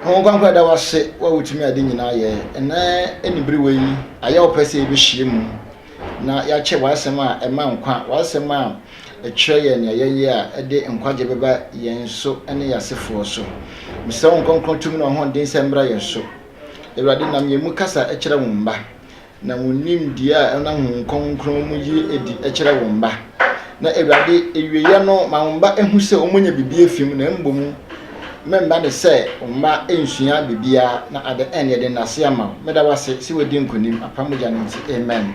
Hon Kwankwa da wase wa wotumi ade nyinaa yɛ ɛnɛ aniberewa yi ayɛ ɔpɛ sɛ yɛbɛhyia mu na yɛakyɛ w'asɛm a ɛma nkwa w'asɛm a ɛkyerɛ yɛ nea yɛyɛ a ɛde nkwagye bɛba yɛn so ne yɛasefoɔ so mesrɛ wo nkɔnkrɔn tumi na ɔhoɔden sɛ mmra yɛn so awurade nam yɛn mu kasa kyerɛ wo mma Na wɔn nimdeɛ a ɛnam Honhom Kronkron mu yi adi kyerɛ wɔn mma. Na Awurade, awieɛ no, ma wɔn mma hu sɛ wɔnyɛ biribi afi mu, na mmom mema no sɛ wɔn mma nsua biribiara, na ade ɛnneɛ de nnase ama wo. Meda wo ase sɛ wɔadi nkonim, apam mogya no nti. Amen.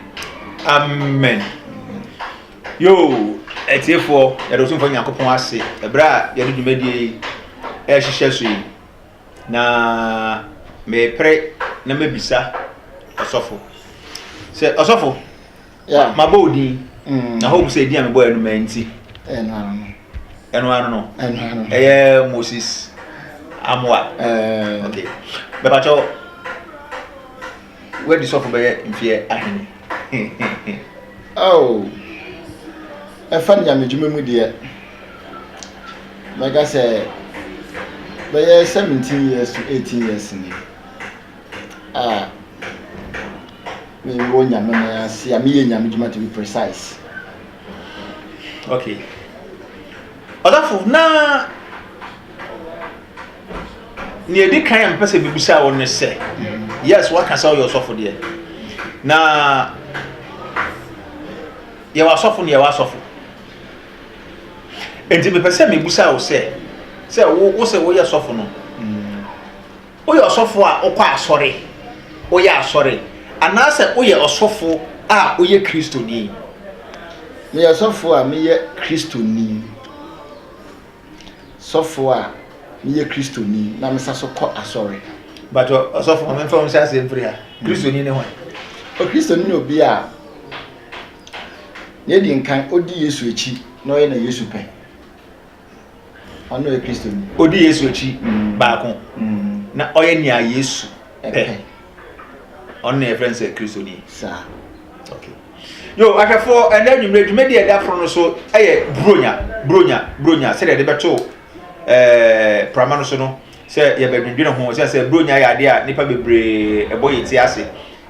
Amen. Yoo, atiefoɔ, yɛde Otumfoɔ Nyankopɔn ase, ɛberɛ a yɛde dwumadie yi ɛrehyehyɛ so yi. Na merepere na mabisa ɔsɔfo sɛ, Ɔsɔfo, mabɔ wo din, mm. na hope sɛ edin a mebɔ yɛ no ma nti. Ɛno ano no. Ɛyɛ Moses Amoa. Eh. Okay. Bɛbakyɛw. Woadi sɔfo bɛyɛ mfeɛ ahene oh. Ɛfa nyamedwuma mu deɛ, mɛka sɛ bɛyɛ 17 years to 18 years ni a mewɔ nyame no ase a meyɛ nyamedwuma to be precise. Okay. Ɔdafo na nea edi kan a mepɛ sɛ mebisa wo ne sɛ yes waka sɛ ɔyɛ ɔsɔfo deɛ na yɛwɔ asɔfo ne yɛwɔ asɔfo nti mepɛ sɛ mebisa wo sɛ sɛ wo wo sɛ woyɛ sɔfo no woyɛ ɔsɔfo a wokɔ asɔre woyɛ asɔre anaasɛ woyɛ ɔsɔfo a woyɛ kristoni meyɛ ɔsɔfo a meyɛ kristoni sɔfo a meyɛ Kristoni na mesa so kɔ asɔre. Mpakyɛw, ɔsɔfo, ma memfa wo nhyɛ aseɛ mfiri ha. Kristoni ne hwan? Okristoni ne obi a na edi nkan odi Yesu akyi na ɔyɛ na Yesu pɛ. Ɔno na ɔyɛ Kristoni. Odi Yesu akyi baako na ɔyɛ nea Yesu pɛ. Ɔno na yɛfrɛ no sɛ Kristoni. Saa. Okay. Yo, ahwɛfoɔ, ɛnnɛ anwummerɛ dwumadie a ɛda foro no so yɛ Buronya, Buronya, Buronya, sɛdeɛ yɛde bɛto ɛɛ prama no so no, sɛ yɛbɛdwendwene ho, sɛ sɛ Buronya yɛ adeɛ a nnipa bebree ɛbɔ yɛn ti ase,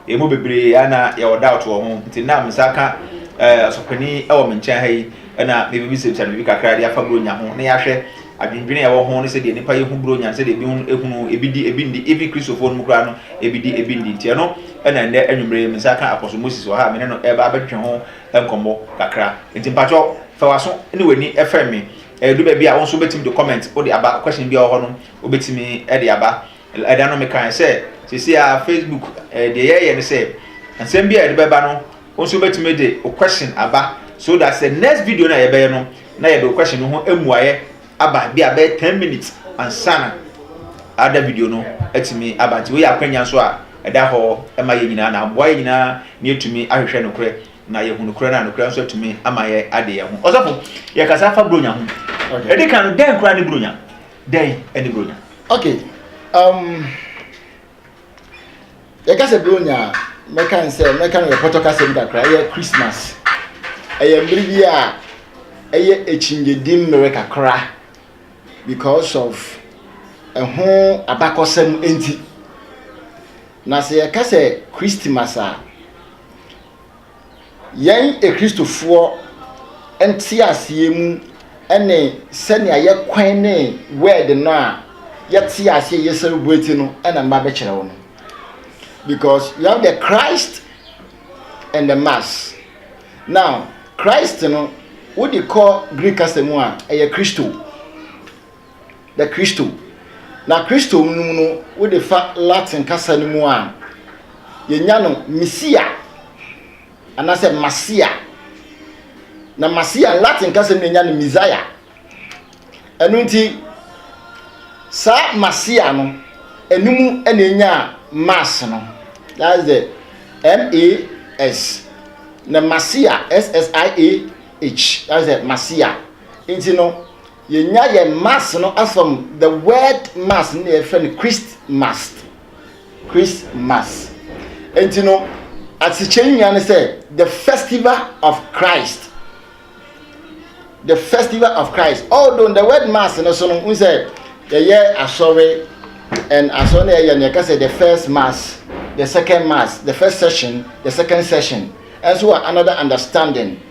ɛmu bebree ana yɛwɔ doubt wɔ ho, nti nam nsa ka ɛɛ ɔsɔpani ɛwɔ me nkyɛn ha yi, ɛna mebɛbisabisa no biribi kakra de afa Buronya ho, na yɛahwɛ. Adwendwene a ɛwɔ ho ne sɛdeɛ nnipa yɛ hu Buronya no sɛdeɛ ebi ho hunu ebi di ebi nni even Kristofoɔ no mu koraa no ebi di ebi nni nti ɛno na ɛnnɛ anwummerɛ yi me nsa ka Apostle Moses wɔ ha a me ne no ɛreba abɛtwetwe ho nkɔmmɔ kakra nti mpakyɛw fa w'aso ne w'ani fɛm me ɛdu baabi a wo nso wobɛtumi de comment wode aba question bi a wɔ hɔ no wobɛtumi de aba ɛda no mekaeɛ sɛ seesei a Facebook deɛ yɛyɛ ne sɛ nsɛm bi a yɛde bɛba no Wo nso wobɛtumi de wo question aba so that sɛ next video no a yɛbɛyɛ no na yɛde wo question no ho mmuaeɛ aba bi a bɛyɛ ten minutes ansa na ada video no atumi aba nti wei yɛ akwanya nso a ɛda hɔ ma yɛn nyinaa na aboa yɛn nyinaa na yɛtumi ahwehwɛ nokorɛ na yɛhu nokorɛ no a nokorɛ nso atumi ama yɛ ade yɛn ho ɔsɔfo yɛkasa fa buronya ho ɛde ka no dɛn koraa ne buronya dɛn ne buronya okay um yɛka sɛ bronya a mɛka ne sɛ mɛka no yɛ pɔtɔ kasɛm kakra ɛyɛ christmas ɛyɛ mmere bi a ɛyɛ akyinnyedi mmere kakra because of ɛho abakɔsɛm nti na sɛ yɛka sɛ christmas a Yɛn Akristofoɔ nteaseɛ mu ne sɛnea yɛkwan ne word no a yɛte aseɛ yɛ celebrate no na mma bɛkyerɛ wo no because you have the Christ and the mass now Christ no wode kɔ Greek kasa mu a ɛyɛ Christo na Kristo. Na Kristo no mu no, wode fa Latin kasa no mu a, yɛnya no Mesia anaasɛ Masia. Na Masia, Latin kasa mu na yɛnya no Messiah. Ɛno nti, saa Masia no, ɛno mu na yɛnya Mass no. That's the M-A-S. Na Masia, S-S-I-A-H, that's the Masia. Nti no, Yɛnya yɛn mass no from the word mass no na yɛfrɛ no Christ mass, Christ mass. Enti no, asekyerɛ no nyinaa ne sɛ the festival of Christ. The festival of Christ. Although the word mass no so no, n sɛ yɛyɛ asɔre and asɔre no yɛyɛ no yɛka sɛ the first mass, the second mass, the first session, the second session. Ɛnso wɔ another understanding.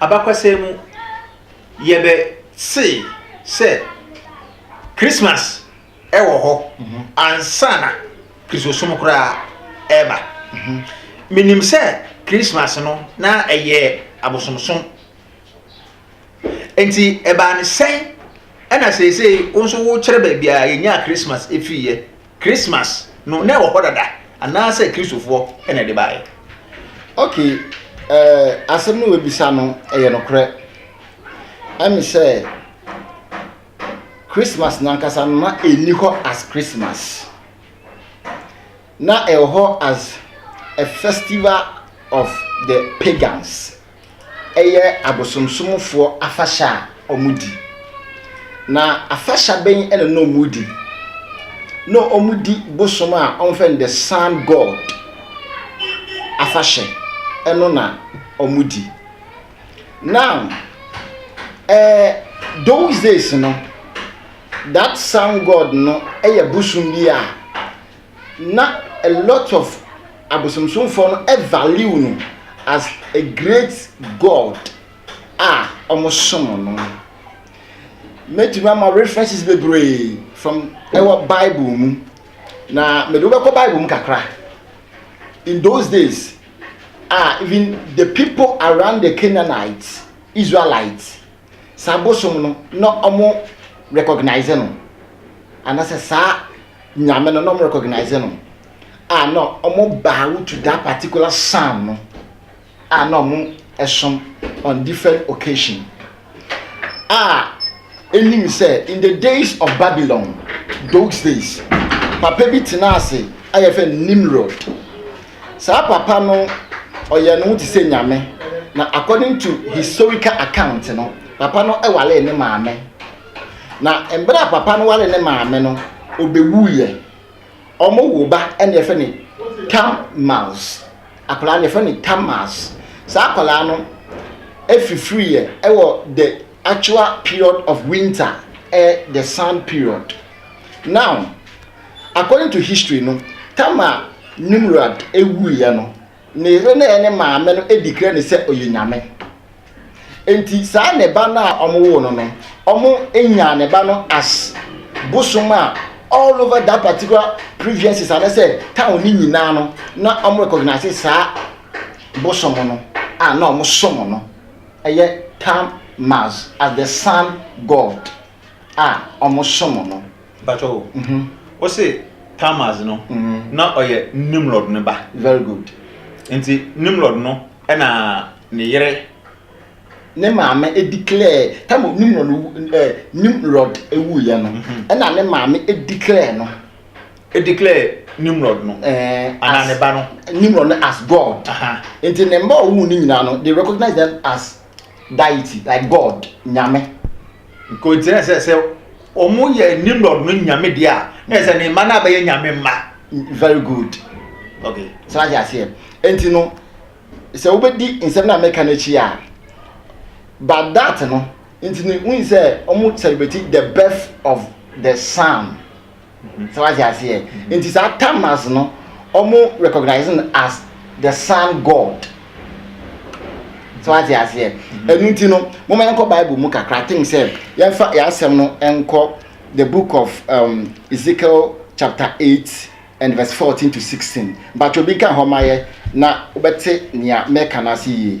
abakɔsɛm mu, yɛbɛse sɛ Christmas wɔ hɔ ansa na Kristosom koraa reba. Minim sɛ Christmas no, na ɛyɛ abosomsom. Enti ɛbaa no sɛn na seesei wo nso wokyerɛ baabi a yenyaa Christmas fiiɛ? Christmas no na ɛwɔ hɔ dada anaasɛ Kristofoɔ na ɛde baeɛ? Ok, eh, asɛm no wabisa no ɛyɛ nokorɛ. Ɛne sɛ, Christmas nankasa no na ɛnni hɔ as Christmas. Na ɛwɔ hɔ as a festival of the pagans. ɛyɛ abosomsomfoɔ afahyɛ a wɔdi. Na afahyɛ bɛn na na wɔdi? Na wɔdi bosom a wɔfrɛ no the sun god afahyɛ ɛno na wɔdi. Now, eh, those days no, that sun god no yɛ bosom bi a na a lot of abosomsomfoɔ no value no as a great God a wɔsom no. Mɛtumi ama references bebree from ɛwɔ Bible mu, na mede wobɛkɔ Bible mu kakra. In those days, a even the people around the Canaanites, Israelites, saa bosom no na ɔmo rekɔgnaese no, anasɛ saa Nyame no na ɔmo rekɔgnaese no, a na ɔmo bow to that particular sun no a na ɔmo som on different occasion. A enim sɛ in the days of Babylon, those days, papa bi tenaa ase a yɛfrɛ no Nimrod. Saa papa no ɔyɛ ne ho te sɛ nyame na according to historical account no papa no ɛwale ne maame na mbra papa no wale ne maame no ɔbɛwu yɛ ɔmo wo ba ɛne ɛfɛ ne tam mouse akwadaa no ɛfɛ ne tam mouse saa akwadaa no ɛfifiri yɛ ɛwɔ the actual period of winter ɛyɛ the sun period now According to history no Tamar Nimrod wuiɛ no ne yere no ɛyɛ ne maame no declare no sɛ ɔyɛ nyame nti saa ne ba no a ɔmo woo no no ɔmo nyaa ne ba no as bosom a all over that particular previences anasɛ town no nyinaa no na ɔmo recognize saa bosom no a na ɔmo som no ɛyɛ Tam Mars as the sun god. a ɔmo som no. Mpakyɛw o, wo se Tammuz no na ɔyɛ Nimrod no ba. Very good. Nti Nimrod no na ne yere. Ne maame edeclare tam a Nimrod no ɛɛ Nimrod ewuiɛ no ɛna ne maame edeclare no. Edeclare Nimrod no ɛɛ anaa ne ba no. Nimrod no as God. Nti ne mma a ɔwoo no nyinaa no they recognize them as deity like God nyame. Nkontsi na sɛ sɛ ɔmo yɛ Nimrod no nyame deɛ a na yɛ sɛ ne mma no abɛyɛ nyame mma very good ok sɛ wate aseɛ nti no sɛ wobɛdi nsɛm no a meka no akyi a but that no nti no wohu sɛ ɔmo celebrate the birth of the sun So wate aseɛ? Nti saa Tammuz no, ɔmo recognise no as the sun god. So wate aseɛ? Ɛno nti no, moma yɛnkɔ Bible mu kakra. I think sɛ yɛmfa yɛn asɛm no nkɔ the book of um, Ezekiel chapter eight and verse fourteen to sixteen. Mpatsɔ bi nka hɔ ma yɛ na wobɛte nea mɛka no ase yie.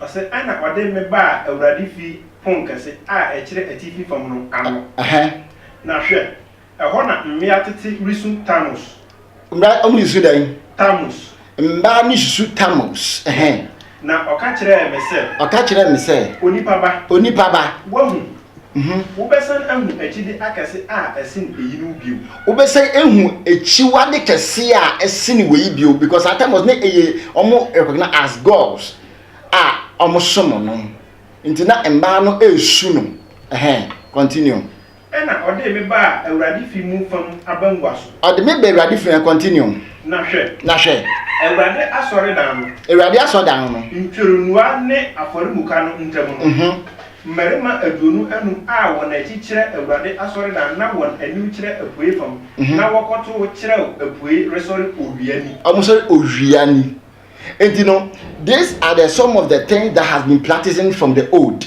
Ɔse ɛna ɔde me baa Awurade fie pon kɛse a ɛkyerɛ atifi fam no ano. Na hwɛ! ɛhɔ na mmea tete resu Tamus. Mmea resu dɛn? Tamus. Mmea no resu Tamus. Na ɔka kyerɛɛ me sɛ. Ɔka kyerɛɛ me sɛ. Onipa ba. Onipa ba. Woahu. ho. Wobɛsan ahu akyide akɛse a ɛsen eyinom bio. Wobɛsan ahu akyiwade kɛse a ɛsen wei bio because at times na ɛyɛ wɔn recognize as gods a wɔsom no nti na mmaa no resu no ɛhɛn continue. Ɛna ɔde me baa Awurade fi mu fam abangua so. Ɔde me baa Awurade fi mu continue. Na hwɛ. Na hwɛ. Awurade asɔredan no. Awurade asɔredan no. Ntwironua ne afɔremuka no ntam no. Mmarima aduonu anum a wɔn akyi kyerɛ Awurade asɔredan na wɔn anim kyerɛ apuei fam, na wɔkɔtow kyerɛw apuei resɔre owia ni. Wɔsɔre owia ni. Enti no, these are the some of the things that has been practicing from the old.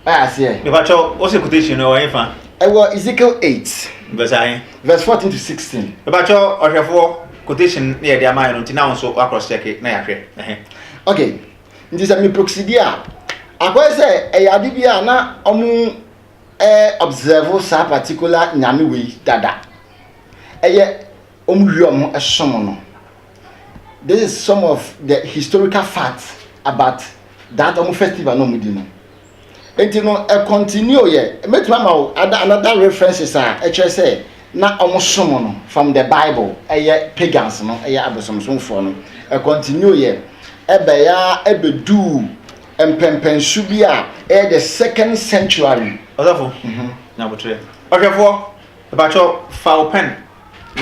Why aseɛ? Mepakyɛw, wose quotation no ɛwɔ hefa? Ɛwɔ Ezekiel eight. Verse ahe? Verse fourteen to sixteen. Mepakyɛw ɔhwɛfoɔ, quotation na yɛde ama yɛn no nti na wo nso woacross check na yɛahwɛ. Ɛhe? Okay, Nti sɛ meproxidi a, akɔyɛ sɛ ɛyɛ ade bi a na wɔobserve saa particular Nyame wei dada. Ɛyɛ wɔwie wɔsom no. This is some of the historical facts about that wɔn festival na wɔdi no. Nti no ɛcontinue yɛ mɛtumi ama wo ada another references a ɛkyerɛ sɛ na ɔmo som no from the bible ɛyɛ pagans no ɛyɛ abosomsomfoɔ no ɛcontinue yɛ ɛbɛyɛ a ɛbɛduu mpɛnpɛnso bi a ɛyɛ the second century. Ɔsɔfo, Nyabotrɛ ɔhwɛfoɔ, mepakyɛw fa wo pɛn.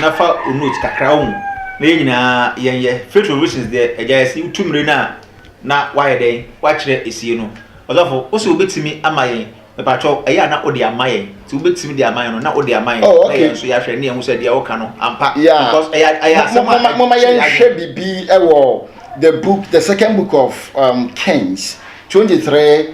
na fa wo note kakra wɔ mu na yɛn nyinaa yɛnyɛ. Faith for Reasons deɛ, agya yɛse wotu mmire no a na woayɛ dɛn? Woakyerɛ esie no. Ɔsɔfo, wose wobɛtumi ama yɛn, mepakyɛw, ɛyɛ a na wode ama yɛn. Nti wobɛtumi de ama yɛn no, na wode ama yɛn, na yɛn nso yɛahwɛ na yɛahu sɛ deɛ woka no, ampa, because ɛyɛ ɛyɛ asɛm a ɛkyerɛ Momma yɛnhwɛ biribi wɔ the book, the second book of um, Kings, 23,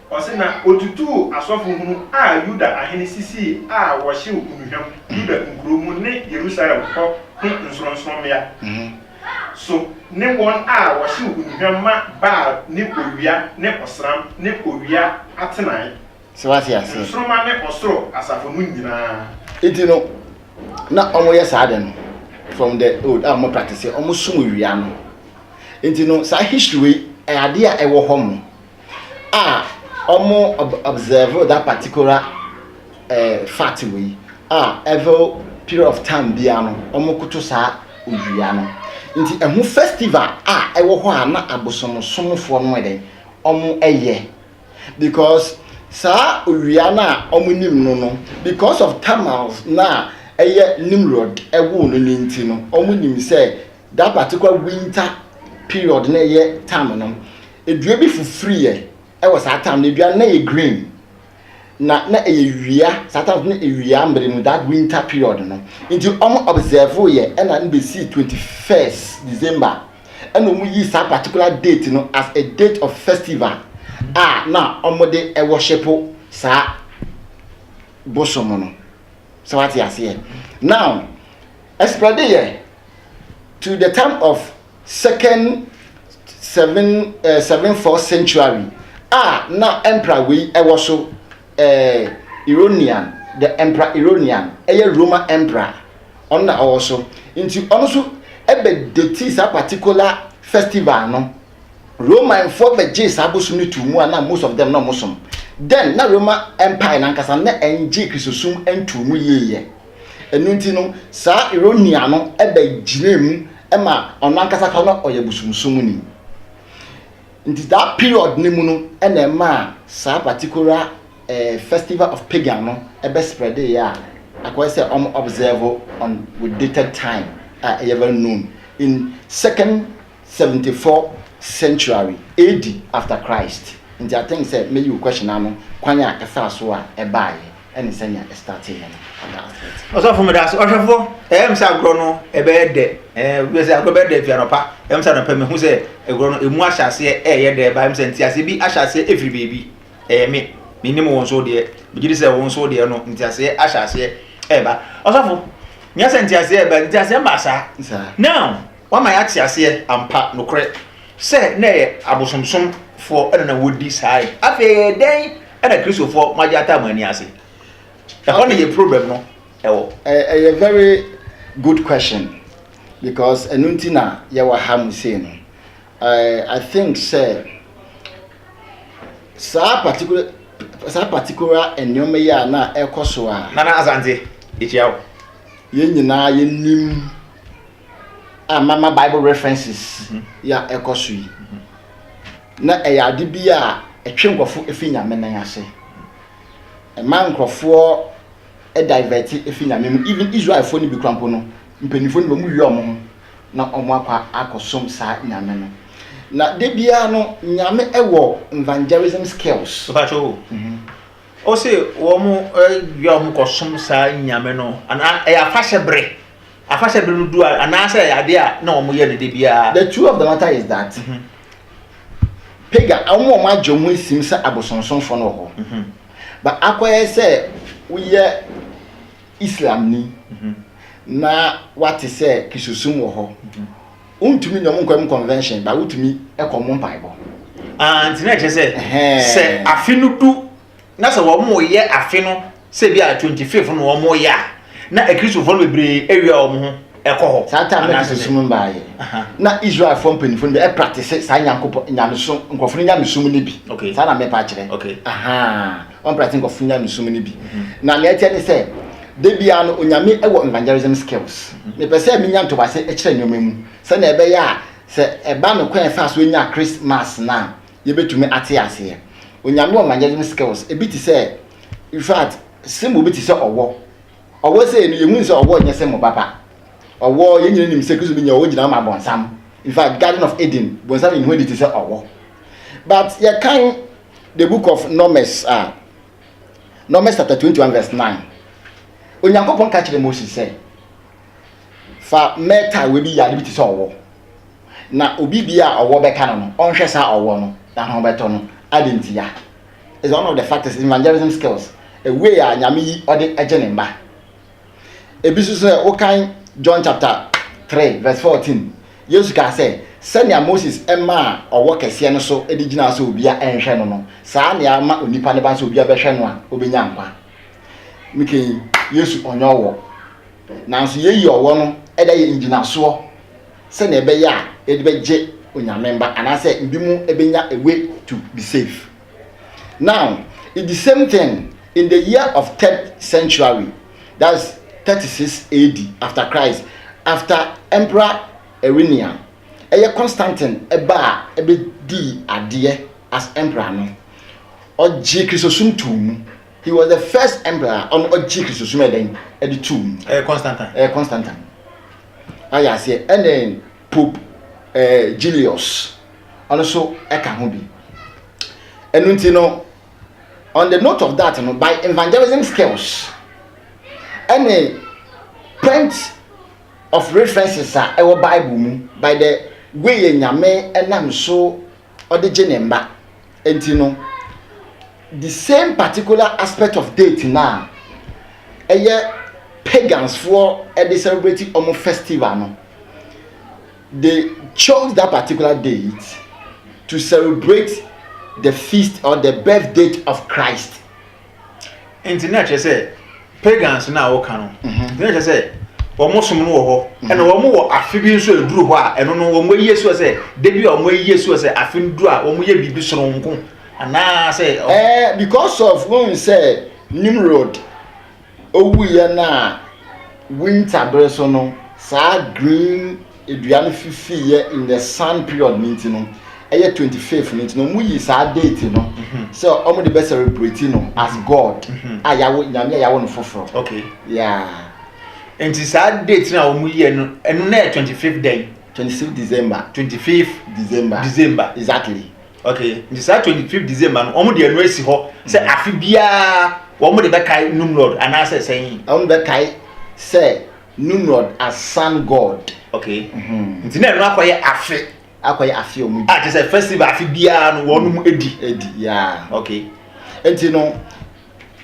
Ɔse na otutuu asɔfo hunu a Yuda ahene sisii a wɔhyew nnuhwam Yuda nkurow mu ne Yerusalem hɔ ho nsorɔnsorɔmmea so ne wɔn a wɔhyew nnuhwam ma Baal ne owia ne ɔsram ne owia atenae, nsoromma ne ɔsoro asafo no nyinaa. Enti no, na wɔyɛ saa ade no from the old a wɔn practice wɔsom owia no. Enti no, saa history wei ɛyɛ adeɛ a ɛwɔ hɔ mo. a ɔmo observe that particular eh, fact wei a every period of time biara no ɔmo koto saa owia no nti ɛho festival a ɛwɔ hɔ a na abosomsomfoɔ no ɛdɛn ɔmo ɛyɛ because saa owia no a ɔmo nim no no because of tamals na ɛyɛ nimrod ɛwoo no ne nti no ɔmo nim sɛ Daa patekwa winter period na ɛyɛ time no, dua bi fifiriiɛ wɔ saa time no, dua no na ɛyɛ green, na na ɛyɛ wia, saa time no na wia mmerɛ mu, that winter period no, nti wɔn observeeɛ ɛna no bɛsii 21st December, ɛna wɔn yii saa particular date no as a date of festival a na wɔde worship saa bosom no. sɛ wate aseɛ now ɛsprɛde yɛ to the time of second seven uh, seven four century a na emperor wei ɛwɔ so uh, Ironian the emperor Ironian ɛyɛ Roma emperor ɔno na ɔwɔ so nti ɔno so ɛbɛ deti saa particular festival no. Romanfoɔ bɛgyee saa bosom no too mu a na most of them na wɔsom. Then na Roma Empire no ankasa na ɛnngye Kristosom ntoo mu yie yɛ. Ɛno nti no saa Irenaean no bɛgyinaa mu ma ɔno ankasa koraa na ɔyɛ bosomsomni. Nti saa period no mu no na ɛmaa saa particular eh, festival of pagan no ɛbɛ spreadeeɛ a akɔyɛ sɛ wɔn observe on with dated time a ɛyɛ very known in second seventy four century AD after Christ nti I think sɛ mɛyi wo question no ano kwan a ɛfaa so a ɛbaeɛ ɛne sɛnea ɛstarteeɛ no ɛda aseɛ ti. Ɔsɔfo meda ase. Ɔhwɛfoɔ, ɛyɛ me sɛ agorɔ no ɛbɛyɛ dɛ. Ɛɛ, wobɛ sɛ agorɔ bɛyɛ dɛ fi anɔpa. Ɛyɛ me sɛ anɔpa mehu sɛ agorɔ no ɛmu ahyɛ aseɛ ɛyɛ dɛ. Ɛbaa me sɛ nteaseɛ bi ahyɛ aseɛ ɛfiri baabi. Ɛyɛ me. Menim wo nso deɛ. Megye di sɛ wo nso deɛ no nteaseɛ ahyɛ aseɛ ɛba. Ɔsɔfo, nyɛ sɛ nteaseɛ ɛba. Nteaseɛ mmaa saa. Saa. Now, Wama yɛate aseɛ ampa, nokorɛ, sɛ na ɛyɛ abosomsomfoɔ na na wɔdi saa nneɛma. Afei ɛyɛɛ dɛn na Kristofoɔ moagye ataa mo ani ase? Ɛhɔ na yɛn problem no wɔ. Ɛyɛ very good question because ɛno nti na yɛwɔ ha mu sei no. I think sɛ saa particular saa particular nneɛma yi a na ɛkɔ so a. Nana Asante, yɛkyia wo. Yɛn nyinaa yɛnim a mama Bible references yi a ɛkɔ so yi, na ɛyɛ ade bi a ɛtwe nkurɔfo fi Nyame nan ase. Ɛma nkurɔfoɔ divɛte fi Nyame mu. Even Israelfoɔ no bi kora mpo no, mpanyinfoɔ no bi, wɔn wia wɔn ho na wɔn akɔ akɔsom saa Nyame no. Na da biara no, Nyame wɔ evangelism skills. Mpakyɛ o. O se wɔn wia wɔn ho kɔsom saa Nyame no, anaa ɛyɛ afahyɛ bere? Afahyɛ bere no du a, anaasɛ ɛyɛ ade a na wɔyɛ no da biara? The truth of the matter is that pagan, wɔn a wɔn agye wɔn asim sɛ abosonsomfo no wɔ hɔ. But akɔyɛ sɛ woyɛ Islamni na woate sɛ Kristosom wɔ hɔ, wontumi ne wɔn nkɔ wɔn convention, but wotumi kɔ wɔn mpaebɔ. Ah, nti na ɛkyerɛ sɛ, sɛ afe no du na sɛ wɔreyɛ afe no sɛ bi a twenty fifth na wɔreyɛ a na akristofoɔ no bebree awia wɔn ho kɔ hɔ. Saa time na kristosom no baeɛ. Na Israelfoɔ mpanyinfoɔ no bi ɛpratese saa nyankopɔn nyamesom nkurɔfoɔ no nyamesom no bi. Okay. Saa na mepa akyerɛ. Okay. Ahaa. Wɔn pratese nkurɔfoɔ nyamesom no bi. Mm-hmm. Na nea ɛteɛ ne sɛ da biara no onyame wɔ evangelism skills. Mm-hmm. Mepɛ sɛ menya ntobase kyerɛ nneɛma mu sɛnea ɛbɛyɛ a sɛ ɛba no kwan ɛfa so nya Christmas na yɛbɛtumi ate aseɛ. Onyame ɔmagyesm skills ebi te sɛ infact symbol bi te sɛ ɔwɔ. Ɔwɔ sɛ no yɛhunu sɛ ɔwɔ nyɛ symbol papa. Ɔwɔ yɛn nyina nim sɛ Kristo bi nyɛ ɔwɔ gyina ma bɔnsam. Infact Garden of Eden bɔnsam yɛ ne ho adi te sɛ ɔwɔ. But yɛkan the book of Numbers a uh, Numbers chapter 21 verse 9 Onyankopɔn ka kyerɛ Moses sɛ Fa mɛɛta a oebi yar no bi tse sɛ ɔwɔ, na obi bi a ɔwɔ bɛka no no, ɔnhwɛ saa ɔwɔ no na hɔn bɛtɔ no. Adɛn ntsia? Is one of the factors in evangelism skills, a way a Nyame yi ɔdze gye ne mba. Bi so sɛ wokan John chapter three verse fourteen, Yesu kaa sɛ, Sɛnea Moses maa ɔwɔ kɛseɛ no so de gyinaa sɛ obia nhwɛ no no, saa ara na yɛama onipa ne ba no sɛ obia bɛhwɛ no a, obenya nkwa. Mekɛn yi, Yesu ɔnnyɛ ɔwɔ. Nanso yei yɛ ɔwɔ no da yɛ ngyinasoɔ sɛdeɛ ɛbɛyɛ a yɛde bɛgye Onyame mba anaasɛ binom bɛnya a way to be safe. Now, it the same thing in the year of third centuary, that's 36 AD after Christ, after Emperor Irinian, ɛyɛ Constantine ba a ɛbɛdii adeɛ as Emperor no, ɔgyee Kristosom too mu. He was the first emperor a ɔno ɔgye kristosom yɛ dɛn ɛde tuu mu. Ɛyɛ Constantine. Ɛyɛ Constantine. Ayɛ aseɛ ɛne Pope ɛɛ eh, Julius ɔno so ɛka ho bi. Ɛnu nti no on the note of that no by evangelism skills ɛne point of references a ɛwɔ Bible mu by the way yɛ nyame ɛnam so. ɔde gye ne mma nti no, the same particular aspect of date no a ɛyɛ pagansfoɔ de celebrate wɔn festival no, they chose that particular date to celebrate the feast or the birth date of Christ. nti na kyerɛ sɛ pagans no a wɔka no mhm. na kyerɛ sɛ wɔn som no wɔ hɔ mhm. ɛna wɔn wɔ afe bi nso aduru hɔ a ɛno no wɔn ayie soɔ sɛ debi a wɔn ayie soɔ sɛ afe no duru a wɔn yɛ biribi soronko anaasɛ. ɛɛ eh, because of wɔn sɛ nimrod owuiɛ no a winter bere so no saa green. dua no fifii yɛ in the sun period no nti no ɛyɛ twenty fifth no nti na wɔn yi saa date no mm-hmm. sɛ wɔn de bɛ celebrate no as mm-hmm. god mm-hmm. a yawo nyame a yawo no foforɔ okay yeah nti saa date na wɔn yi ɛno ɛno na yɛ twenty fifth day twenty fifth december twenty fifth december december exactly okay nti saa twenty fifth december no wɔn de ɛno esi hɔ sɛ afi biara wɔn de bɛ kae num lord anaasɛ sɛn. wɔn bɛ kae sɛ. Nimrod asan god. Okay. Nti na ɛno akɔyɛ afe. Akɔyɛ afe ɔmo di. A kyerɛ sɛ festival afe biara no wɔn mu edi. Edi yaa. Okay. Nti no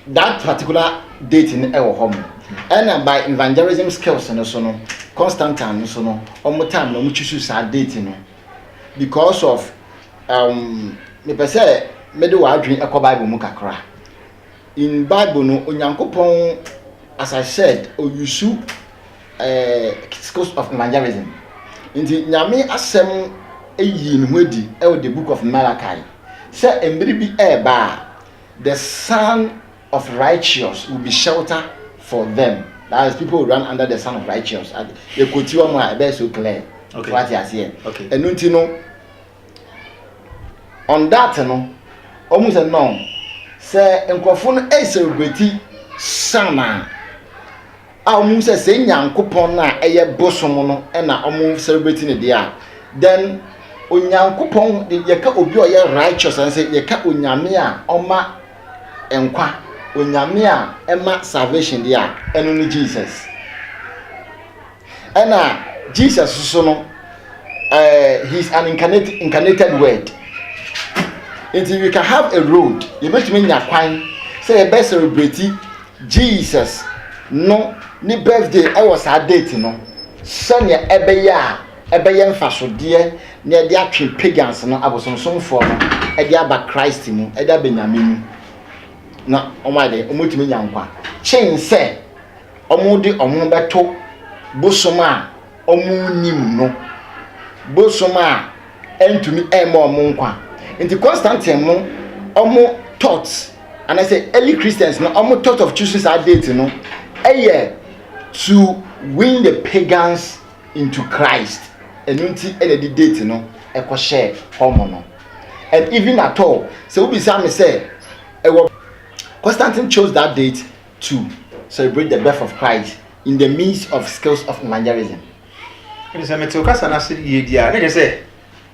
that particular date no ɛwɔ hɔ mo. Ɛna hmm. by evangelism skills no so no Constantine no so no ɔmo time na ɔmo choose saa date no because of um mepɛ sɛ mede w'adwene ɛkɔ Bible mu kakra. In Bible no, Onyankopɔn as I said, oyusu eh, schools of evangelism. Nti Nyame asɛm eyi ne ho adi ɛwɔ the book of Malachi sɛ mmere bi ɛɛba a the son of righteous will be shelter for them. That is people will run under the son of righteous. Yɛkɔti wɔn a ɛbɛyɛ so clear. Okay. Wate aseɛ. Okay. Ɛno nti no On that no, wɔhu sɛ no, sɛ nkurɔfo no ɛresɛlebreti Shana a wɔhu sɛ sɛ Nyankopɔn no a ɛyɛ bosom no na wɔsɛlebreti ne deɛ a, then Onyankopɔn de yɛka obi a ɔyɛ righteous ɛne sɛ yɛka Onyame a ɔma nkwa, Onyame a ɛma salvation deɛ a, ɛno ne Jesus. Ɛna Jesus soso no, ɛɛ eh, he is an incarnated, incarnated word. Nti we can have a road, yɛbɛtumi nya kwan sɛ yɛbɛ celebrate Jesus no ne birthday ɛwɔ saa date no sɛnea ɛbɛyɛ a ɛbɛyɛ mfasodeɛ na ɛde atwe pagans no abosomsomfoɔ no ɛde aba Christ mu ɛde aba Nyame mu na wɔn ayɛ dɛ wɔn tumi nya nkwa kyen sɛ wɔde wɔn ho bɛto bosom a wɔnnim no, bosom a ɛntumi mma wɔn nkwa. Nti Constantine no, wɔn thought, anaasɛ early Christians no, wɔn thought of choosing saa date no, ɛyɛ to win the pagans into Christ. Ɛno nti na ɛde date no ɛkɔhyɛɛ wɔn no. And even at all, sɛ wobisa me sɛ, ɛwɔ Constantine chose that date to celebrate the birth of Christ in the midst of skills of evangelism. Ɛne sɛ mete ɔkasa no ase yie di a, na kyerɛ sɛ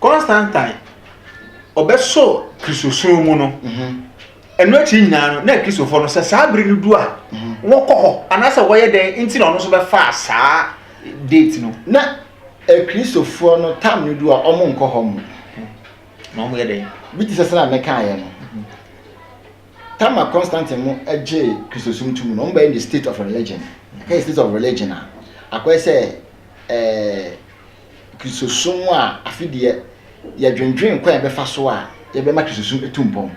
Constantine ɔbɛsɔ Kristosom mu no. Mhm. Ɛno akyi nyinaa no, na Kristofoɔ no sɛ saa bere no du a, mhm. wɔkɔ hɔ anaasɛ wɔyɛ dɛn nti na ɔno nso bɛfaa saa date no. Na Kristofoɔ no tam no du a, wɔn nkɔ hɔ mu. Na wɔn yɛ dɛn? Bi te sɛ sɛ na mekaeɛ no. Tama Constantine no gyee Kristosom tum no, wɔbɛyɛ no state of religion. Ɛka yɛ state of religion a, akɔyɛ sɛ ɛɛ Kristosom a afi deɛ yɛdwendwen kwan a yɛbɛfa so a yɛbɛma Kristosom atu mpɔn.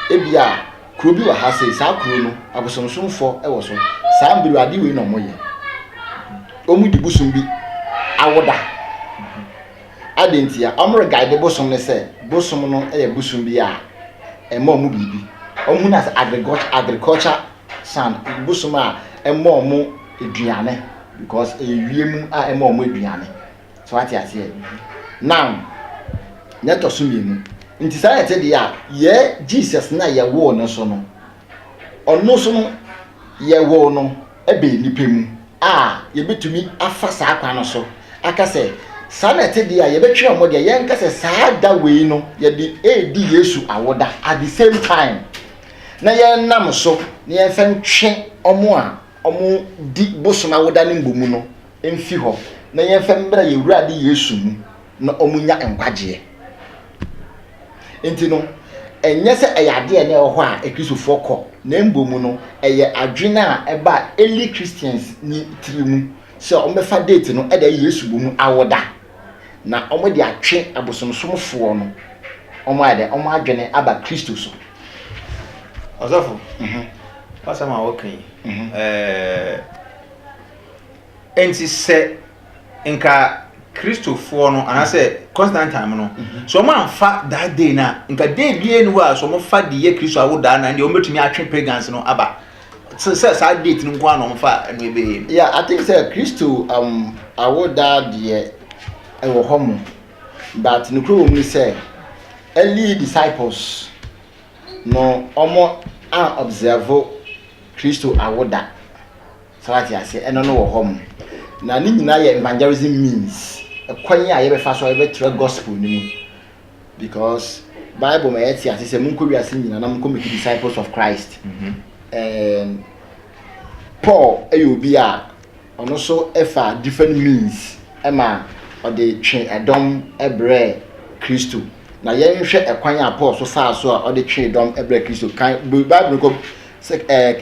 Ebi a kuro bi wɔ ha sei, saa kuro no abosomsomfo wɔ so. Saa mbiru ade wei na wɔyɛ. Wɔn di bosom bi awoda. Adɛn ntia? Wɔreguide bosom no sɛ bosom no yɛ bosom bi a ɛma wɔn biribi. Wɔhu no as agriculture agriculture sun, bosom a ɛma wɔn aduane because ɛyɛ wiem a ɛma wɔn aduane. So wate aseɛ? Now, na ɛtɔ so mmienu. Nti saa na ɛte deɛ a, yɛ Jesus no a yɛwoo no so no, Ɔno so no, yɛwoo no bɛn nnipa mu a yɛbɛtumi afa saa kwan no so aka sɛ, saa na ɛte deɛ a, yɛbɛtwe wɔn deɛ, yɛnka sɛ saa da wei no yɛde redi Yesu awoda at the same time, na yɛnam so na yɛmfa ntwe wɔn a wɔdi bosom awoda no mmɔ mu no mfi hɔ, na yɛmfa mmra yɛn Awurade Yesu mu na wɔnya nkwagyeɛ. Enti no, ɛnyɛ sɛ ɛyɛ ade a na ɛwɔ hɔ a Kristofo kɔ, na mmom no, ɛyɛ adwene a ɛbaa early Christians no tiri mu sɛ wɔbɛfa date no de ayɛ Yesu wu no awoda, na wɔde atwe abosomsomfo no wɔn ayɛ dɛn, wɔn adwene aba Kristo so. Ɔsɔfo, w'asɛm a woka yi, ɛɛ. Enti sɛ nka Kristofoɔ no anaasɛ Constantine no, sɛ wɔn anfa that day no a, nka day biara ni hɔ a sɛ wɔn fa de yɛ Kristo awodaa na ɛnde wɔn bɛtumi atwe pagans no aba. Sɛ sɛ saa date no nko ara na wɔn fa ɛno ɛbɛyɛ no. Yeah, I think sɛ Kristo um, awodaa deɛ ɛwɔ hɔ mo, but nokorɛ wɔ mu ne sɛ early disciples no wɔn an observe Kristo awoda. Saa wate aseɛ ɛno no wɔ hɔ mo na ne nyinaa yɛ evangelism means ɛkwan a yɛbɛfa so a yɛbɛkyerɛ gospel no mu because bible ma yɛte ase sɛ monkɔ wiase nyinaa na monkɔ make disciples of christ mm -hmm. and paul ɛyɛ obi a ɔno so ɛfa different means ɛma ɔde twe ɛdɔm ɛbrɛ kristo na yɛnhwɛ ɛkwan a paul so faa so a ɔde twe ɛdɔm ɛbrɛ kristo kan bible no kɔ sɛ ɛɛ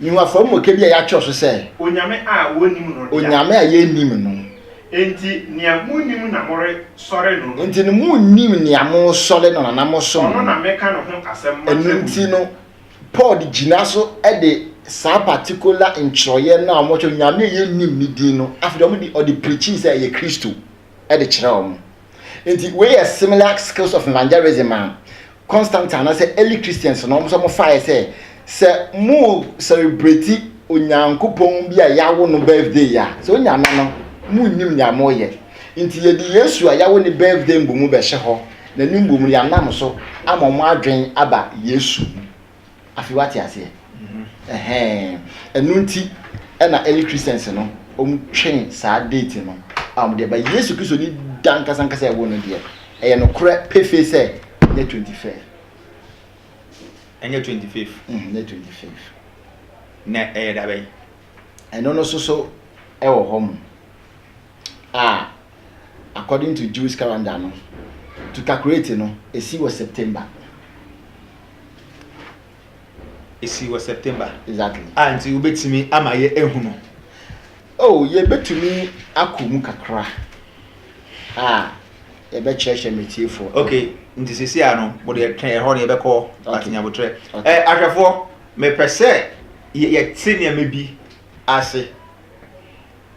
Yiw, afɔremuka bi a yɛakyerɛw so sɛ. Onyame a wonnim no dea. Onyame a yennim no. Enti nea munnim na moresɔre no no. Enti no munnim nea moresɔre no no anaa mosom no no. Ɔno na meka no ho asɛm makyerɛ mo no. Ɛno nti no, Paul de gyina so de saa patikola ntwerɛeɛ no a wɔkyerɛw Onyame a yennim ne din no, afei deɛ wɔde ɔde preachii sɛ ɛyɛ Kristo de kyerɛɛ wɔn. Enti wei yɛ similar skills of evangelism a Constantine anaasɛ early Christians na wɔn nso wɔfaeɛ sɛ, sɛ mo celebrate Onyankopɔn bi a yɛawo no birthday a, sɛ onya nna no, monnim nea moreyɛ. Nti yɛde Yesu a yɛawo ne birthday mbom bɛhyɛ hɔ, na ne mbom yɛanam so ama wɔn adwene aba Yesu ho. Afei wate aseɛ? Ɛhɛn. Ɛno nti ɛna early Christians no wɔtwe saa date no a wɔde ba Yesu Kristo ne da ankasa ankasa ɛwɔ no deɛ ɛyɛ nokorɛ pefee sɛ ɛnyɛ twenty fifth. Ɛnyɛ twenty fifth. Mm, ɛnyɛ twenty fifth. Na ɛyɛ da bɛn? Ɛno no so so ɛwɔ hɔ mo. a according to Jewish calendar no, to calculate no, esi wɔ September. Esi wɔ September. Exactly. A ah, nti wobɛtumi ama yɛ ehu no. Oh, yɛbɛtumi akɔ mu kakra a yɛbɛkyerɛkyerɛ mɛtiefoɔ. Okay, nti sisi a no, mo deɛ twɛn ɛhɔ no yɛbɛkɔ atenyabotrɛ. Ɛ eh, ahwɛfoɔ, mepɛ sɛ yɛte nneɛma bi ase.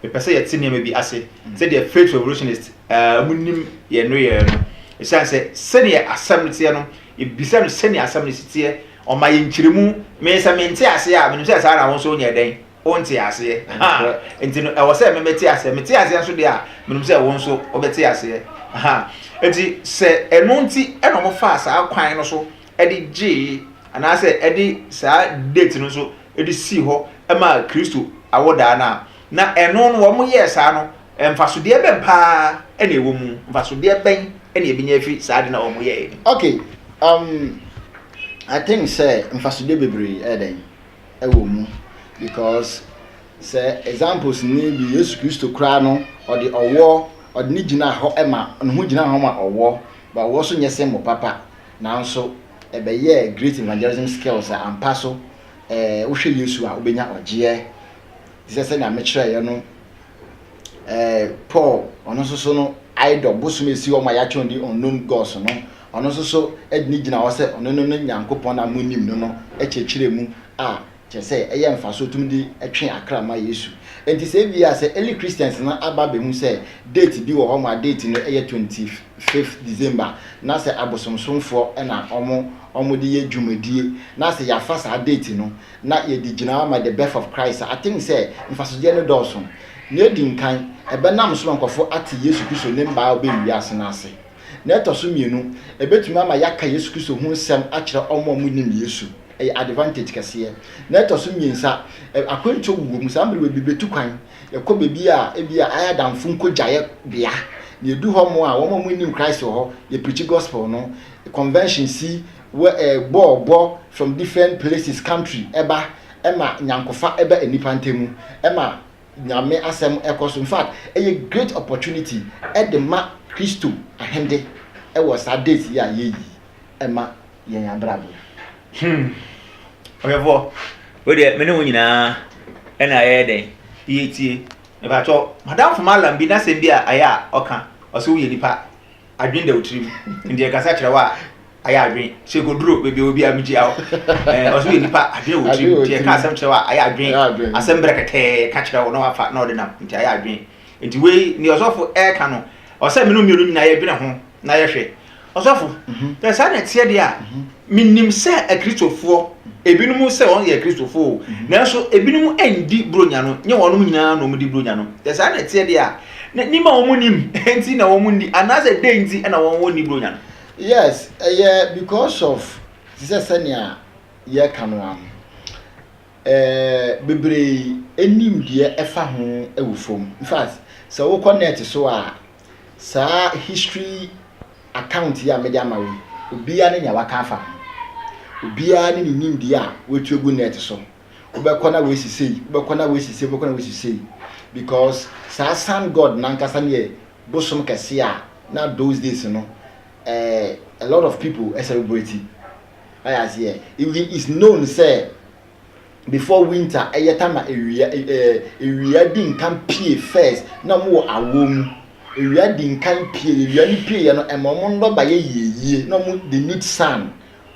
Yɛpɛ sɛ yɛte nneɛma bi ase mm. sɛdeɛ faith revolutionist eh, wɔn nim yɛn no yɛn no ɛsiane sɛ sɛdeɛ asɛm no teɛ no ebisa no sɛdeɛ asɛm no si teɛ ɔma yɛn nkyerɛmu mmiɛnsa mente aseɛ a menim sɛ saa na wɔn nso nyɛ dɛn wɔnte aseɛ ha nti no ɛwɔ sɛ memɛte aseɛ mete aseɛ nso deɛ a menim sɛ wɔn nso wɔbɛte aseɛ ha nti sɛ ɛno nti ɛna wɔn fa saa kwan no so de gyee anaasɛ ɛde saa date no nso de sii hɔ maa Kristo awodaa no a, na ɛno no wɔyɛɛ saa no, mfasodeɛ bɛn paa na ɛwɔ mu? Mfasodeɛ bɛn na yɛbɛnya afiri saa ade no a wɔyɛeɛ no mu? Okay, um, I think sɛ mfasodeɛ bebree ɛyɛ dɛn? Ɛwɔ mu because sɛ examples ni bi Yesu Kristo koraa no ɔde ɔwɔ ɔde ne gyinaa hɔ ma ne ho gyinaa hɔ ma ɔwɔ, ba ɔwɔ so nyɛ symbol papa. Nanso, ɛbɛyɛɛ Great Evangelism Skills a ampa so ɛɛ wohwɛ Yesu a wobɛnya ɔgyeɛ. Te sɛ sɛnea mekyerɛeɛ no, ɛɛ Paul, ɔno nso so no, idol, bosom a ɛsi hɔ ma yɛatwerɛ no din unknown gods no, ɔno nso so de no gyina hɔ sɛ ɔno ne no Nyankopɔn a monnim no no kyerɛkyerɛɛ mu a Kyerɛ sɛ, ɛyɛ mfaso tumi de twe akra ma Yesu. Enti sɛ ebia sɛ early Christians no aba abehu sɛ date bi wɔ hɔ ma date no yɛ twenty fifth December na sɛ abosomsomfoɔ na wɔn wɔde yɛ dwumadie na sɛ yɛafa saa date no na yɛde gyina ma the birth of Christ a, I think sɛ mfasodeɛ no dɔɔso. Nea edi nkan, ɛbɛnam so ma nkurɔfoɔ ate Yesu Kristo ne mma a ɔbɛn wiase no ase. Nea ɛtɔ so mmienu, ɛbɛtumi ama yɛaka Yesu Kristo ho nsɛm akyerɛ wɔn a wɔnnim Yesu. Ɛyɛ advantage kɛseɛ. Nea ɛtɔ so mmiensa, akwantuo wowɔ mu. Saa mmerewa bi bɛtu kwan, yɛkɔ baabi a ebia ayɛ adamfo nkɔgyaeɛ bea. Na yɛdu hɔ mo a, wɔn a wɔnnim Christ wɔ hɔ, yɛ preachi gospel no. Convention si, wɔ eh, bɔɔl bɔ from different places, country, ɛba, ɛma nyankofa ɛba nnipa ntamu, ɛma Nyame asɛm kɔ so. Infact ɛyɛ great opportunity de ma Kristo ahende wɔ saa days yi a yɛyi ma yɛn abrabɔ mu. Hmm. Ɔhwɛfoɔ, wei deɛ me ne wo nyinaa ɛna yɛyɛ dɛn yɛtie. Mepakyɛw, m'adamfo Mallam bi n'asɛm bi a ayɛ a ɔka, ɔse woyɛ nipa. adwen da wo tirim nti ɛkasa kyerɛ wo a ayɛ adwen sɛ kɔduro baabi wɔ biara megyia wo ɔso yɛ nipa adwen wɔ tirim nti ɛka asɛm kyerɛ wo a ayɛ adwen asɛm berɛ kɛtɛɛ ka kyerɛ wo na wafa na ɔde nam nti ayɛ adwen nti wei ne ɔsɔfo ɛka no ɔsɛ mene mmienu nyinaa yɛdwene ho na yɛhwɛ ɔsɔfo sɛ saa na ɛteɛ deɛ a menim sɛ akristofoɔ ebinom sɛ wɔn yɛ akristofoɔ nanso ebinom ɛndi buronya no nyɛ wɔn nyinaa na wɔn di buronya no sɛ saa na ɛteɛ deɛ a Na nim a wɔn nnim nti na wɔn nni anaasɛ dɛn nti na wɔn wɔ nni bronya no? Yes, ɛyɛ because of te sɛ sɛnea yɛka no ara no, ɛɛ bebree nim deɛ ɛfa ho wɔ fam. In fact, sɛ wokɔ net so a, saa history account yi a mede ama wo yi, obiara ne nea waka afa ho. Obiara ne ne nimdeɛ a watu agu net so. wobɛkɔ na wasi sei wobɛkɔ na wasi sei wobɛkɔ na wasi sei because saa sun god nankasa no yɛ bosom kɛse a na those days no eh, a lot of people eh, celebrate ayɛ aseɛ even is known sɛ before winter ɛyɛ ta na ewia ewia di nkan pie first na wɔn wɔ awoɔ mu ewia di nkan pie ewia no pie yɛ no ɛma wɔn nnɔba yɛ yieyie na wɔn they need sun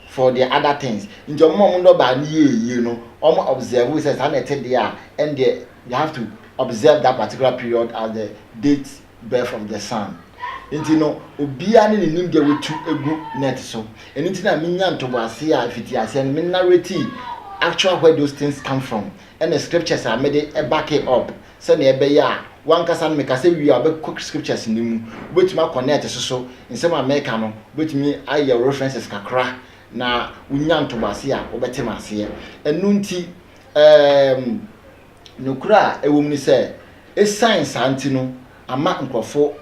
for their other things. Nti ɔmo ma ɔmo nnɔbaa no yie yie no, ɔmo observe sɛ saa na ɛte deɛ a, ɛndeɛ they have to observe that particular period as the date birth of the sun. Nti no, obiara ne ne nimdeɛ watu agu net so. Ɛno nti na menya ntoboaseɛ a ɛfiti aseɛ no, me narrate actual where those things come from, ɛne scriptures a mede back it up. sɛnea ɛbɛyɛ a w'ankasa no mekasa wie a wobɛkɔ scriptures no mu, wobɛtumi akɔ net so so nsɛm a mɛka no wobɛtumi ayɛ wo references kakra na wonya ntoboase a wobɛte m'aseɛ. Ɛno nti ɛɛm nokorɛ a ɛwɔ mu ne sɛ ɛsiane saa nti no ama nkorɔfo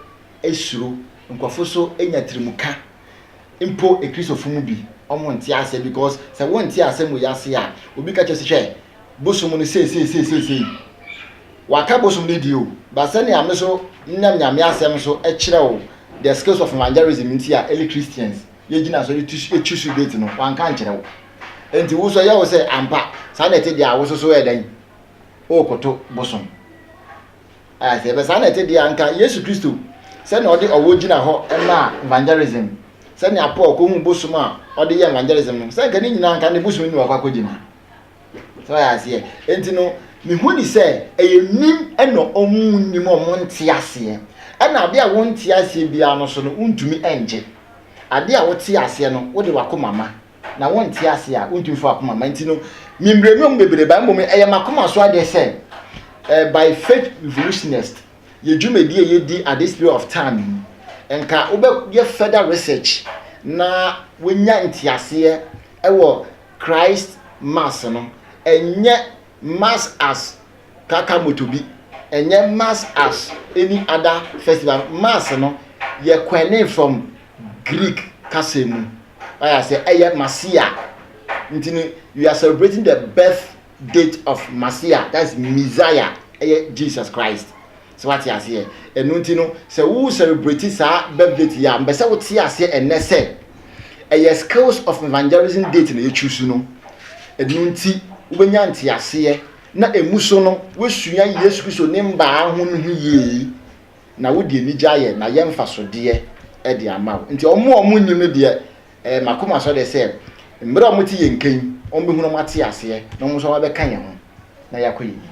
suro, nkorɔfo nso nya tirimuka mpo Kristofo mu bi wɔn nte aseɛ because sɛ wɔn nte asɛm wɔ yi ase a obi ka kyerɛ sɛ hwɛ bosom no seesei seesei sei waka bosom no die o ba sɛ nea me so nam nyame asɛm so kyerɛ o the skills of evangelism nti a early Christians yɛgyina so ɛtu so date no wanka nkyerɛ wo nti wo so yɛ wo sɛ ampa saa na ɛte deɛ a wo so so yɛ dɛn o koto bosom Ayɛ aseɛ bɛ saa na ɛte deɛ anka Yesu Kristo sɛnea ɔde ɔwɔ gyina hɔ maa evangelism sɛnea Paul kɔhu bosom a ɔde yɛ evangelism no sɛ anka ne nyinaa anka ne bosom no na wakɔ akɔgyina sɛ ɔyɛ aseɛ enti no mehu ni sɛ ɛyɛ nim ɛna ɔmu nnim ɔmo nte aseɛ ɛna adeɛ a wonte aseɛ biara no so no wontumi ɛngye adeɛ a wote aseɛ no wode wakoma ma na wonte ase a, wontumi mfa w'akoma mma. Nti no, memmire nnwom bebree ba, mmom ɛyɛ m'akoma so adeɛ sɛ eh, by faith revolutionist, yɛ dwumadi a yɛdi at this period of time yi, nka wobɛyɛ further research na wonya nteaseɛ ɛwɔ Christ Mass no. Ɛnyɛ Mass as kaka moto bi, ɛnyɛ Mass as any other festival. Mass no, yɛ kwane from Greek kasa mu ayɛ asɛ ɛyɛ Masia nti no we are celebrating the birth date of Masia that is Messiah ɛyɛ Jesus Christ sɛ wate aseɛ ɛno nti no sɛ wo celebrate saa birth date yɛ a mbɛ sɛ wote aseɛ ɛnɛ sɛ ɛyɛ skills of evangelism date na yɛtwi so no ɛno nti wobɛnya nteaseɛ na ɛmu so no woasua Yesu Kristo ne mbaa ho no ho yie na wode anigye ayɛ na yɛ mfasodeɛ de ama wo. Nti wɔn a wɔnnim no deɛ, eh, m'akoma sɔ dɛ sɛ mmerɛ a wɔte yɛn nka yi, wɔbɛhu na wɔate aseɛ na wɔn nso wɔabɛka yɛn ho na yɛakɔ yɛn anim.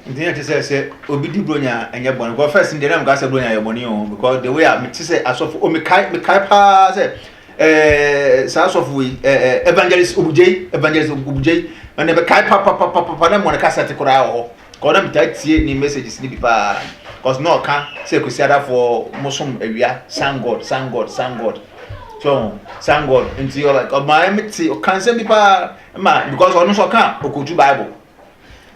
Nti na ɛte sɛ, sɛ obi di Buronya a, ɛnyɛ bɔne. Because first no deɛ na meka sɛ Buronya yɛ bɔne o, because the way a mete sɛ asɔfo, o mekae, mekae paa sɛ, eh, saa asɔfo yi, eh, eh, Evangelist Obugyei, Evangelist Obugyei, na mekae papapapapa na mmɔ ne kasɛte koraa wɔ hɔ. Cause na metaa tie ne messages no bi paa cause na ɔka sɛ Kwesiadafoɔ mo som awia sun god sun god sun god so ho sun god nti ɔla ɔmaa me te ɔka nsɛm bi paa ma because ɔno nso ɔka okotu bible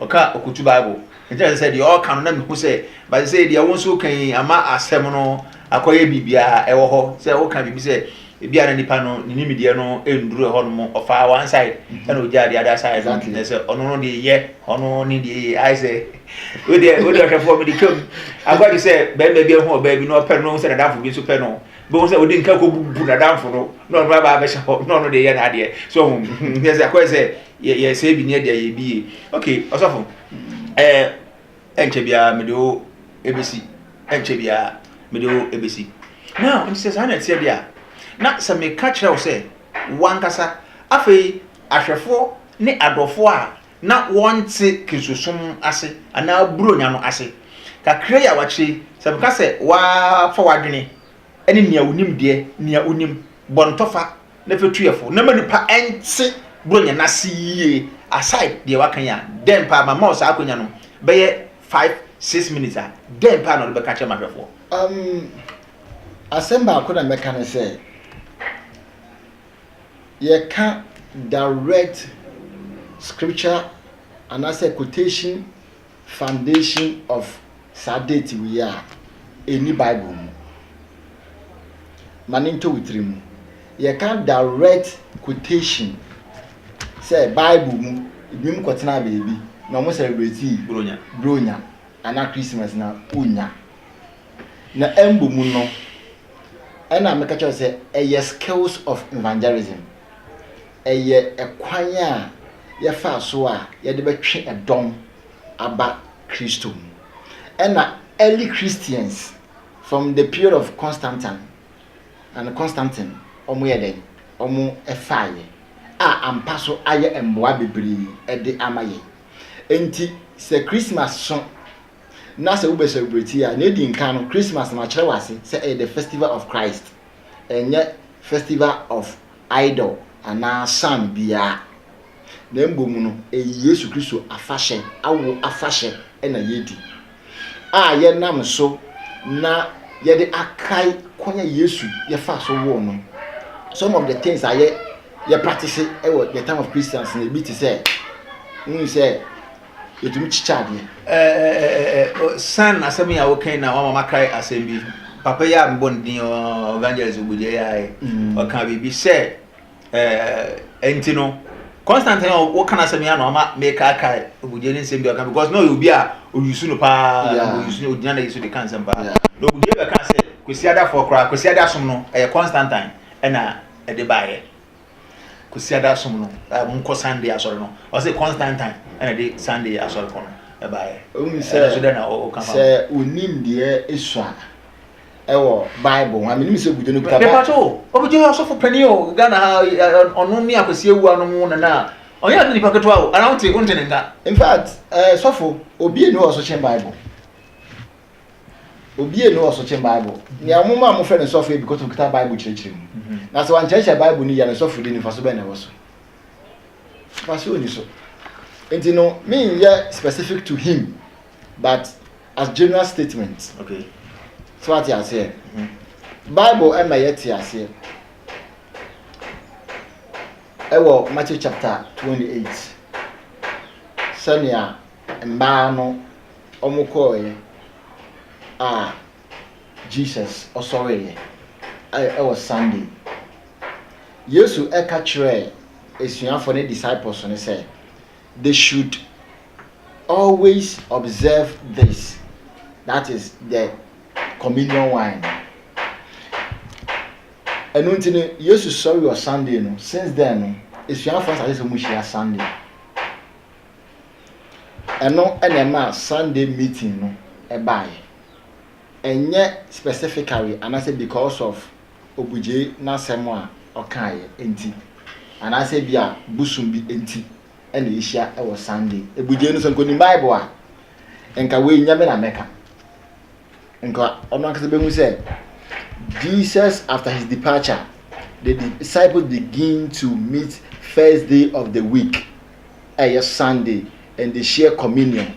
ɔka okotu bible nti na sɛ deɛ ɔka no na mehu sɛ but sɛ deɛ wo nso kan ama asɛm no akɔyɛ biribiara ɛwɔ hɔ sɛ woka biribi sɛ Ebia na nipa no ne nimdeɛ no nnuru ɛhɔnom, ɔfaa one side ɛna mhm. ogyaa the other side no na sɛ ɔno no deɛ yɛ ɔno ne deɛ yɛ ayɛ sɛ wodeɛ wodeɛ ɔhwɛfoɔ mede twam agwagye sɛ bɛrima bi ho ɔbaa bi na ɔpɛ no na ɔhu sɛ nadamfo bi nso pɛ no bɛhu sɛ ɔde nka kɔbubu nadamfo no na ɔno aba abɛhyɛ hɔ na ɔno deɛ yɛ n'adeɛ so ɔhu yɛ sɛ akɔyɛ sɛ yɛsɛ bi ne ɛdeɛ yɛ bi yie okay ɔsɔfo ɛɛ Ɛnkyɛ biara mede wo bɛsi. Ɛnkyɛ biara mede wo bɛsi. Now, nti sɛ saa na ɛteɛ deɛ a, na sɛ meka kyerɛ wo sɛ w'ankasa, afei ahwɛfoɔ ne adɔfoɔ a na wɔnte Kristosom ase anaa Buronya no ase, kakra yi a wɔakyerɛ yi, sɛ meka sɛ wɔafa w'adwene ne nea wo nimdeɛ, nea wonim, bɔ no tɔfa, Ne fatuefo, na ma nnipa nte Buronya no ase yiye. Aside deɛ waka yi a, dɛn paa, mama wo saa akwanya no bɛyɛ five, six minutes a, dɛn paa na wode bɛka akyerɛ m'ahwɛfoɔ? Um, asɛm baako na mɛka ne sɛ, yɛka direct scripture anaasɛ quotation Foundation of saa date wei a ɛnni bible mu. Ma no ntɔ wo tiri mu. Yɛka direct quotation sɛ bible mu binom kɔtenaa baabi na wɔn celebratii Buronya anaa Christmas na wonnya. Na ɛmbɔ mu no ɛna meka kyerɛ wo sɛ ɛyɛ skills of evangelism. Ɛyɛ kwan a yɛfa so a yɛde bɛtwe dɔm aba Kristo mu. Ɛna early Christians from the period of Constantine and Constantine wɔn yɛ dɛn? Wɔn faeɛ a ampa so ayɛ mmoa bebree de ama yɛn. Enti sɛ Christmas so na sɛ wobɛ celebrate a, na edi nkan no Christmas no akyerɛ wɔ ase sɛ ɛyɛ the festival of Christ, ɛnyɛ festival of idol anaa sun biara, na mmom no, ɛyɛ Yesu Kristo afahyɛ, awo afahyɛ na yɛredi, a yɛnam so na yɛde akae kwan a Yesu yɛfaa so woo no. Some of the things a yɛ yɛ practice wɔ the time of Christians no, ebi te sɛ, wohu sɛ yɛtumi kyekyɛ adeɛ. San asɛm yi a wokan na wama makae asɛm bi papa yi a mebɔ no din evangelist ogbogye yi ae ɔka biribi sɛ ɛnti no constantine a woka no asɛm yi a na ɔma mekaakae ogbogye ne nsɛm bi ɔka because na ɔyɛ obi a ɔyusu no paa ɔyusu no ɔgyina na yɛsu de ka nsɛm paa na ogbogye bɛka sɛ kwasiadafoɔ koraa kwasiada som no ɛyɛ constantine ɛna ɛde baeɛ Kwasiada som no, a wɔkɔ Sunday asɔre no, ɔse Constantine na ɛde Sunday asɔre kɔ no baeɛ. Wohu sɛ, Ɛno so dɛn na woka fa ho? sɛ wonim deɛ esua ɛwɔ Bible ho a, menim sɛ Gujo no kuta Bible. Mepatwo, Ogujo yɛ ɔsɔfo panin o, Ghana ha, ɔno ne Akwasi Awuah no mo nana a, ɔnyɛ ade nipa ketewa o, anaa wonte, wonte ne nka? In fact, eh, sɔfo, obie ni hɔ a ɔso kyen Bible. Obi nni hɔ so kyen Bible. Nea wɔn maa wɔfrɛ no sɔfo yɛ because okita Bible kyerɛkyerɛ mu. Na sɛ wankyerɛkyerɛ Bible no yie a, ne sɔfodi no mfaso bɛn na ɛwɔ so? Mfaso nni so. Nti no, menyɛ specific to him but as general statement. Okay. So wate aseɛ? Mm-hmm. Bible ɛma yɛte aseɛ ɛwɔ Matthew chapter 28 sɛnea mmaa no Wɔkɔeɛ a Jesus ɔsɔreeɛ ɛ wɔ Sunday. Yesu ka kyerɛɛ asuafoɔ no, disciples no, sɛ they should always observe this, that is the communion wine no. Ɛno nti no, Yesu sɔre wɔ Sunday no, since then no, asuafoɔ asase sɛ wɔhyia Sunday. Ɛno na ɛmaa Sunday meeting no baeɛ. Ɛnyɛ specifically anaasɛ because of Obugyei n'asɛm a ɔkaeɛ nti, anaasɛ ebia bosom bi nti na yɛhyia wɔ Sunday. Ebugyei no sɛ nka ɔnim Bible a, nka wei nyɛ me na mɛka. Nka ɔno ankasa bɛhu sɛ Jesus after his departure, the disciples begin to meet first day of the week. ɛyɛ Sunday and they share communion.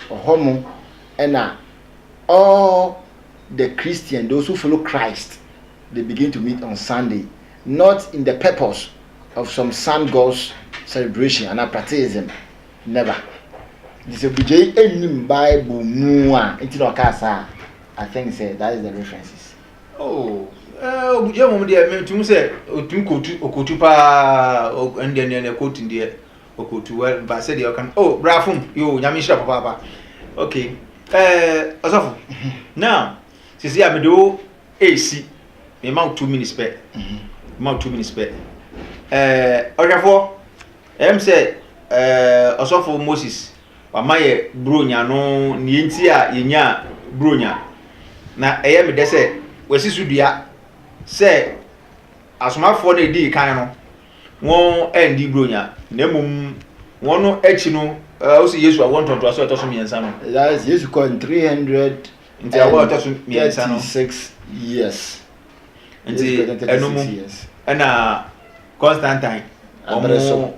Ɔhɔ mo ɛna all the Christian, those who follow Christ, they begin to meet on Sunday, not in the purpose of some sun gods celebration and practicism. Never. Nti sɛ bugyei ɛnnim Bible mu a, nti na ɔkaa saa. I think sɛ that is the references. Obugya mmom deɛ metum sɛ ɔtumi kɔtu ɔkɔtu paa ɛndeɛ ndeɛ ndeɛ kɔtu deɛ ɔkɔtu wɛ ba sɛdeɛ ɔka no o oh, brafom yoo nyame nhyira papaapa ok ɛɛ ɔsɔfo now sisi a mede wo ɛɛsi mema wo two minutes pɛ mema wo two minutes pɛ ɛɛ ɔhwɛfoɔ ɛyɛm sɛ ɛɛ ɔsɔfo moses Wama yɛ Buronya no nea enti a yenyaa Buronya, na ɛyɛ me dɛ sɛ wɔasi so dua sɛ asomafoɔ no a edii kan no wɔanndi Buronya, na mmom wɔn akyi no ɔsi Yesu awoɔ ntɔntoasoɔ a ɛtɔ so mmiɛnsa no. That is, Yesu kɔɔ ne three hundred Nti awoɔ a ɛtɔ so mmiɛnsa no, and thirty six years. Nti ɛno mu na Constantine wɔn so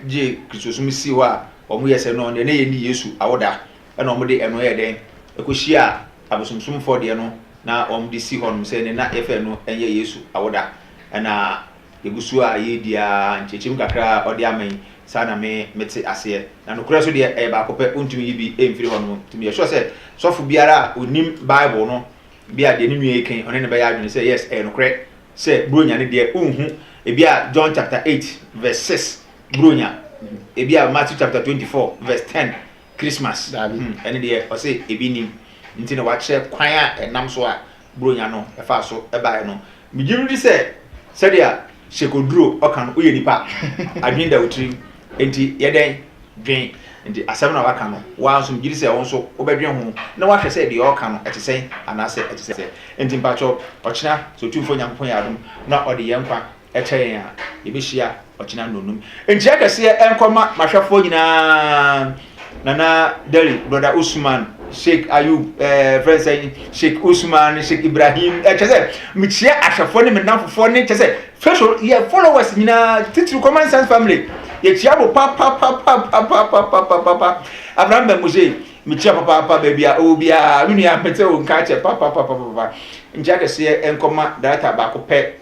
gye kristosom sii hɔ a wɔn yɛ sɛ no deɛ na yɛnni Yesu awoda ɛna wɔn de ɛno yɛ dɛn ɛkɔhyia abosomsomfoɔ deɛ no na wɔn de si hɔ nom sɛ ne na yɛfɛ ɛno ɛnyɛ Yesu awoda ɛna yɛgu so a yɛredi a nkyerɛkyerɛmu kakra a ɔde ama yi saa na me mete aseɛ na nokorɛ so deɛ ɛyɛ baako pɛ wontumi yi bi mfiri hɔ nom nti meyɛ sure sɛ sɔfo biara a ɔnim Bible no bi a deɛ ne nua yi kan ɔne ne bɛyɛ adwene sɛ yes ɛyɛ nokorɛ Sɛ Buronya no deɛ wonhu ebia John chapter eight verse six Buronya, ebia Matthew chapter twenty four verse ten Christmas, hmm, ɛno deɛ ɔse ebi nim, nti na wakyerɛ kwan a ɛnam so a Buronya no ɛfaa so ɛbaeɛ no. Megye medi sɛ sɛdeɛ Shekoduro ɔka no, woyɛ nipa a, adwene da wo tirim. Enti yɛ dɛn? Dwen. Enti asɛm na waka no, wo ara nso migye di sɛ wo nso wobɛdwen ho na woahwɛ sɛ deɛ ɔreka no, ɛte sɛn anaasɛ ɛte sɛ. Enti mpakyɛw, ɔkyena, sɛ Otumfoɔ Nyankopɔn yɛ adom na ɔde yɛn nkwa kyɛ yɛn a, yɛbɛhyia ɔkyena nnɔnnum. Nkyia kɛseɛ nkɔ ma m'ahwɛfoɔ nyinaa. Nana Deri, Brother Usman, Sheikh Ayub, ɛɛ fɛn sɛ Sheikh Usman, Sheikh Ibrahim, ɛkyɛ sɛ mekyia ahwɛfoɔ ne me nnamfofoɔ ne kyɛ sɛ facial yɛ followers nyinaa titiri common sense family yɛkyia mo papapapapapapapapa Abraham Bamuse mekyia papaapa baabi a ɔwɔ biara me nua mete wo nka kyɛ papapapapapa nkyia kɛseɛ nkɔma darata baako pɛ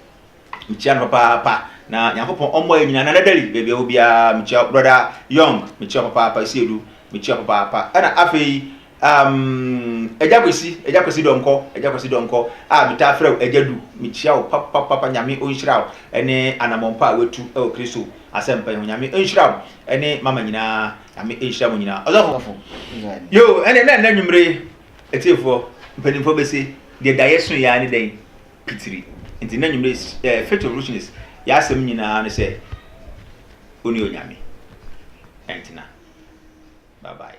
Mekyia no papaapa na Nyankopɔn ɔmmoa yɛn nyinaa. Nana Dali, baabi a ɛwɔ biara, mekyia wo. Brɔda Young, mekyia wo papaapa. Asiedu, mekyia wo papaapa. Ɛna afei, um, Agya Kwesi, Agya Kwesi Dɔnkɔ, Agya Kwesi Dɔnkɔ, a metaa frɛ wo Agya Du, mekyia wo papaapa. Nyame ɔnhyira wo ne anammɔn pa a woatu wɔ Kristo asɛmpa yi ho. Nyame ɔnhyira wo ne mama nyinaa. Nyame nhyira mo nyinaa. Ɔsɔfo, yo, ɛnde na ɛnnɛ anwummere yi, atiefoɔ, mpanimfoɔ bɛse, deɛ daeɛ soeɛ ara ne dɛn? pitiri. Nti n'anwummere s eh, Faith of Richness y'asɛm nyinaa ne sɛ wone Onyame ɛntena. Bye bye.